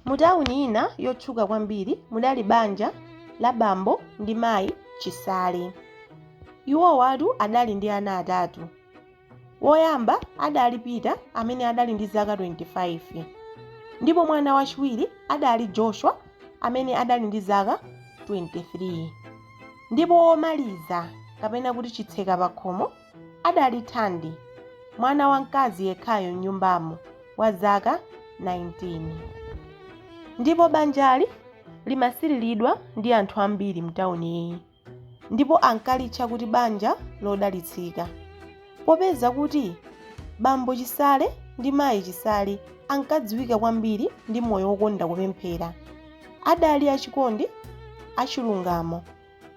Mu tawuni ina yotchuka kwambiri mudali banja la bambo ndi mayi Chisale. Iwowatu adali ndi ana atatu. Woyamba adali Peter amene adali ndi zaka 25 ndipo mwana wachiwiri adali Joshua amene adali ndi zaka 23 ndipo womaliza kapena kuti chitseka pakhomo adali Thandi, mwana wamkazi yekhayo m'nyumbamo wa zaka 19. Ndipo banjali limasiriridwa ndi anthu ambiri m'tauniyi ndipo ankalitcha kuti banja lodalitsika. Popeza kuti bambo Chisale ndi mayi Chisale ankadziwika kwambiri ndi moyo wokonda kupemphera, adali achikondi, achilungamo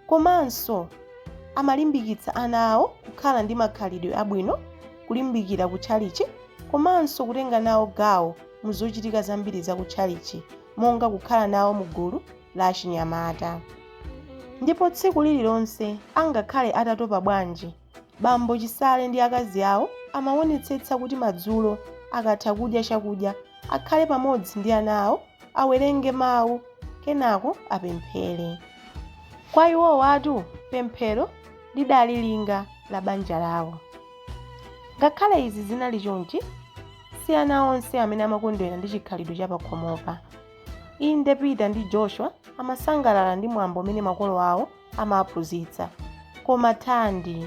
Komanso amalimbikitsa ana awo kukhala ndi makhalidwe abwino, kulimbikira kutchalitchi komanso kutenga nawo gawo mu zochitika zambiri za kutchalitchi monga kukhala nawo mu gulu la achinyamata. Ndipo tsiku lililonse angakhale atatopa bwanji, Bambo Chisale ndi akazi awo amawonetsetsa kuti madzulo akatha kudya chakudya akhale pamodzi ndi ana awo awerenge mawu kenako apemphere. Kwa iwowatu pemphero lidali linga la banja lawo. Ngakhale izi zinali chonchi, si ana onse amene amakondwera ndi chikhalidwe cha pakhomopa. Inde Peter ndi Joshua amasangalala ndi mwambo umene makolo awo amaphunzitsa. Koma Thandi,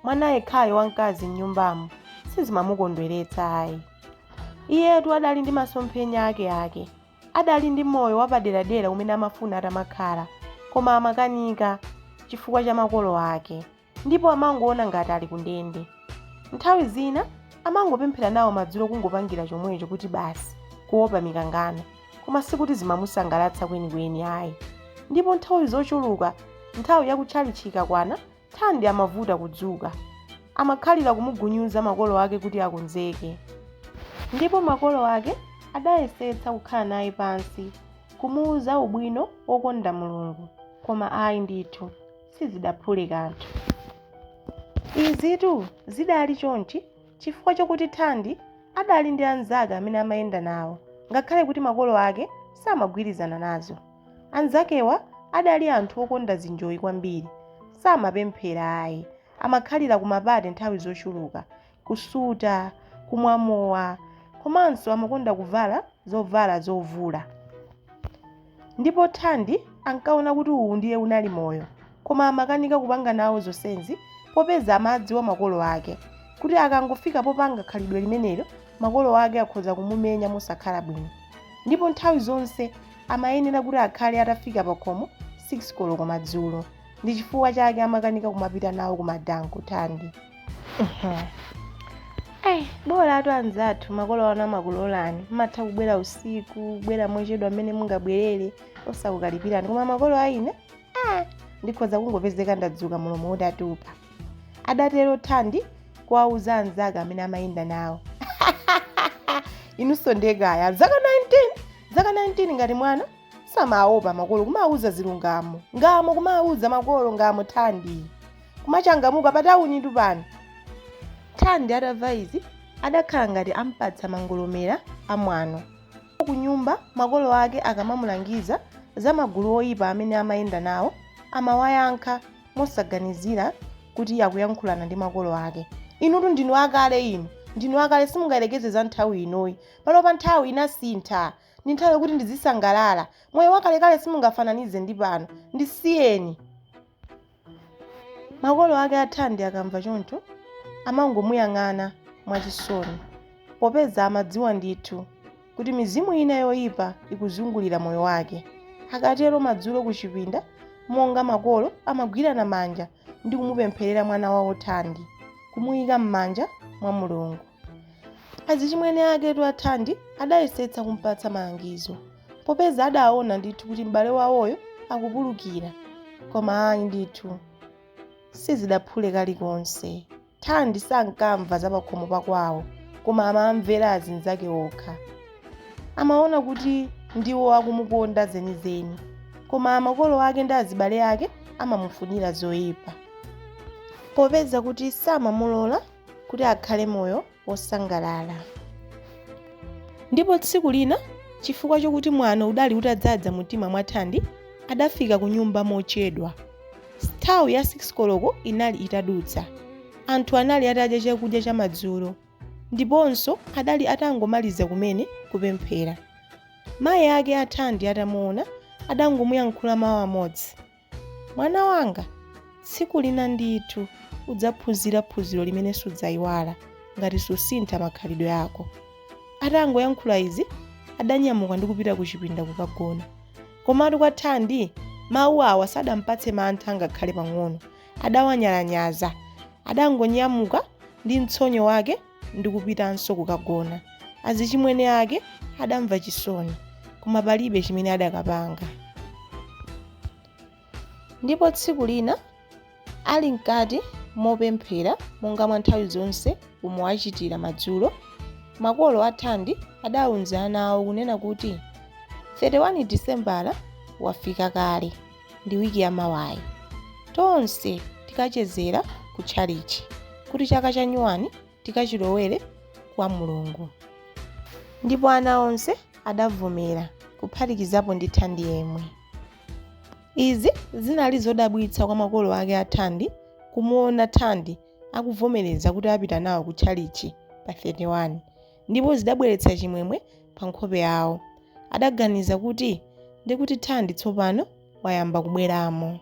mwana yekhayo wamkazi m'nyumbamo, sizimamukondweretsa ayi. Iyetu adali ndi masomphenya akeake. Adali ndi moyo wapaderadera umene amafuna atamakhala, koma amakanika chifukwa cha makolo ake, ndipo amangoona ngati ali kundende. Nthawi zina amangopemphera nawo madzulo kungopangira chomwecho kuti basi, kuopa mikangano. koma sikuti zimamusangalatsa kwenikweni ayi ndipo nthawi zochuluka nthawi yakutchalitchi ikakwana thandi amavuta kudzuka amakhalira kumugunyuza makolo ake kuti akonzeke ndipo makolo ake adayesetsa kukhala naye pansi kumuuza ubwino wokonda mulungu koma ayi ndithu sizidaphule kanthu izitu zidali chonchi Chifukwa chakuti Thandi adali ndi anzake amene amayenda nawo ngakhale kuti makolo ake samagwirizana nazo. Anzakewa adali anthu okonda zinjoyi kwambiri. Samapemphera ayi. Amakhalira kumapate nthawi zochuluka, kusuta, kumwa mowa komanso amakonda kuvala zovala zovula. Ndipo Thandi ankaona kuti uwu ndiye unali moyo, koma amakanika kupanga nawo zonsezi popeza amadziwa makolo ake kuti akangofika popanga khalidwe limenelo makolo ake akhoza kumumenya mosakhala bwino ndipo nthawi zonse amayenera kuti akhale atafika pakhomo 6 koloko madzulo. ndi chifukwa chake amakanika kumapita nawo kumadansiko Thandi. Ayi, bolatu anzathu makolo anu amakulolani matha kubwera usiku kubwera mochedwa mmene mungabwerere osakukalipirani koma makolo aine ah, ndikhoza kungopezeka ndadzuka mlomo utatupa adatero thandi kuwauza anzake amene amayenda nawo inunso ndekaya zaka 19 zaka 19 ngati mwana samaopa makolo kumawauza zilungamo ngamo kumawauza makolo ngamo thandi kumachangamuka patawunitu pano thandi atamva izi adakhala ngati ampatsa mangolomera amwano ku nyumba makolo ake akamamulangiza za magulu oyipa amene amayenda nawo amawayankha mosaganizira kuti akuyankhulana ndi makolo ake inutu ndinu akale inu ndinu akale simungayerekeze za nthawi inoyi panopa nthawi inasintha Ndi nthawi yokuti ndizisangalala. Moyo wakalekale simungafananize ndi pano. Ndisiyeni. Makolo ake a Thandi akamva choncho, amangomuyang'ana mwachisoni, popeza amadziwa ndithu kuti mizimu ina yoipa ikuzungulira moyo wake. Akatero madzulo kuchipinda, monga makolo amagwirana manja ndi kumupempherera mwana wawo thandi kumuyika m'manja mwa mulungu azichimwene aketu athandi adayesetsa kumpatsa malangizo popeza adaona ndithu kuti m'bale wawoyo akupulukira koma ayi ndithu sizidaphule kalikonse Thandi sankamva za pakhomo pa kwawo koma amamvera azinzake okha. Amaona kuti ndiwo akumukonda zenizeni koma makolo ake ndi azibale ake amamufunira zoipa. Popeza kuti samamulola kuti akhale moyo wosangalala. Ndipo tsiku lina chifukwa chokuti mwano udali utadzadza mumtima mwa Thandi, adafika kunyumba mochedwa. Nthawi ya 6 koloko inali itadutsa. Anthu anali atadya chakudya chamadzulo ndiponso adali atangomaliza kumene kupemphera. Mayi ake a Thandi atamuona, adangomuyankhula mawu amodzi. Mwana wanga, tsiku lina ndithu udzaphunzira phunziro limene sudzaiwala ngati susintha makhalidwe ako. Atangoyankhula izi, adanyamuka ndi kupita kuchipinda kukagona. Komatu kwa Thandi, mawu awa sadampatse mantha ngakhale pang'ono. Adawanyalanyaza. Adangonyamuka ndi mtsonyo wake ndi kupitanso kukagona. Azichimwene ake adamva chisoni, koma palibe chimene adakapanga. Ndipo tsiku lina Ali mkati mopemphera monga mwa nthawi zonse umwe achitira madzulo, makolo a Thandi adauza ana awo kunena kuti, 31 Disembala wafika kale ndi wiki ya mawayi. Tonse tikachezera ku tchalitchi kuti chaka cha nyuwani tikachilowere kwa Mulungu. Ndipo ana onse adavomera kuphatikizapo ndi Thandi yemwe. Izi zinali zodabwitsa kwa makolo ake a Thandi kumuona Thandi akuvomereza kuti apita nawo ku tchalitchi pa 31 ndipo zidabweretsa chimwemwe pa nkhope yawo. Adaganiza kuti ndikuti Thandi tsopano wayamba kubweramo.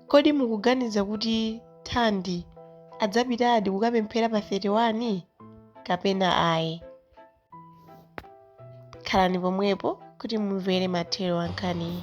Kodi mukuganiza kuti Thandi adzapitadi kukapemphera pa 31 kapena ayi? khalani pomwepo kuti mumvere mathero a nkhaniyi